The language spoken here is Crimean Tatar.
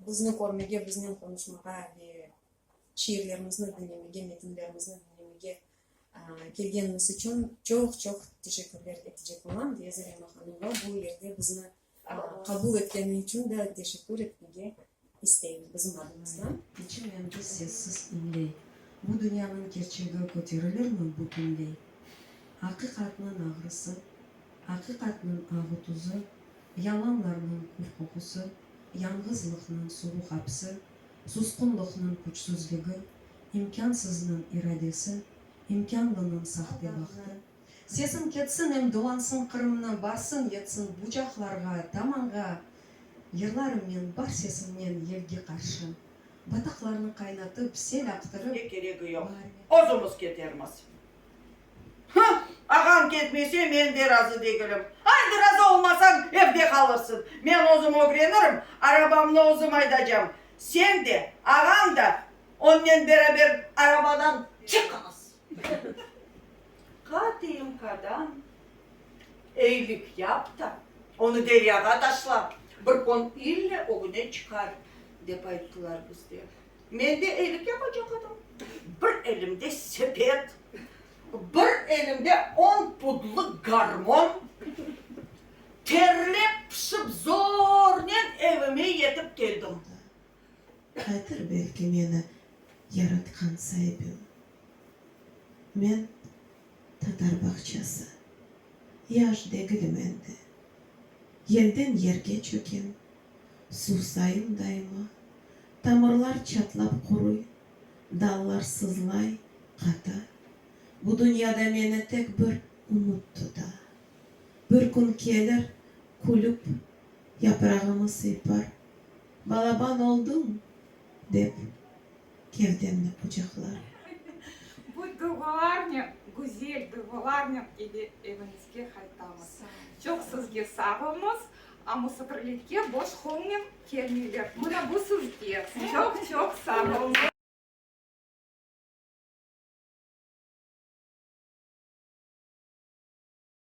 Bizni körmege, biznen qonuşmağa ve şiirlerimizni diñlemege, metinlerimizni diñlemege kelgeniniz içün çoq-çoq teşekkürler etecek olam, deya Zarema hanımğa bu yerde bizni Qabul etkeni içün de teşekkür etmege isteyim bizim adımızdan. Keçen ömrü sessiz inley. Bu dünyanıñ kerçegi köterilirmi bütünley? Aqiqatnıñ ağrısı, aqiqatnıñ ağı tuzı, yalanlarnıñ kür qoqusı, yañğızlıqnıñ suvuq apsi, susqunlıqnıñ küçsüzligi, imkânsıznıñ iradesi, imkânlınıñ sahte bahtı, Sesim ketsin em dolansın Qırımnı barsın yetsin bucaqlarğa, damanğa Yırlarım men bar sesimnen yelge qarşı Bataqlarnı qaynatıp, sel aqtırıp, Ne keregi yoq, özümiz ketermiz. Hı! Ağañ ketmese, men de razı degilim. Haydi, razı olmasañ, evde qalırsıñ. Men özüm ögrenirim, arabamnı özüm aydacam. Sen de, ağañ da onnen beraber arabadan çıqıñız. KTMK-dan eylik yap da, onı deryağa taşla, bir kün ille ögüne çıqar, dep ayttılar bizge. Men de eylik yapacaq edim. Bir elimde sepet, bir elimde on pudlıq garmon. Terlep-pışıp zornen evime yetip keldim. Aytır belki meni yaratqan saibim. Men tatar bağçası. Yaş degilim endi. Yelden yerge çökem, suvsayım daima. Tamırlar çatlap quruy, dallar sızlay, qata. Bu dünyada meni tek bir ümüt tuta. Bir kün kelir, külüp, yaprağımı sıypar. Balaban olduñ! dep, gevdemni qucaqlar. Bu duyğularnen, güzel duyğularnen eve, eviñizge qaytamız. Çoq sizge sağ olñız, a musafirlikge boş qoñnen kelmeyler. Mına bu sizge. Çoq-çoq sağ olñız!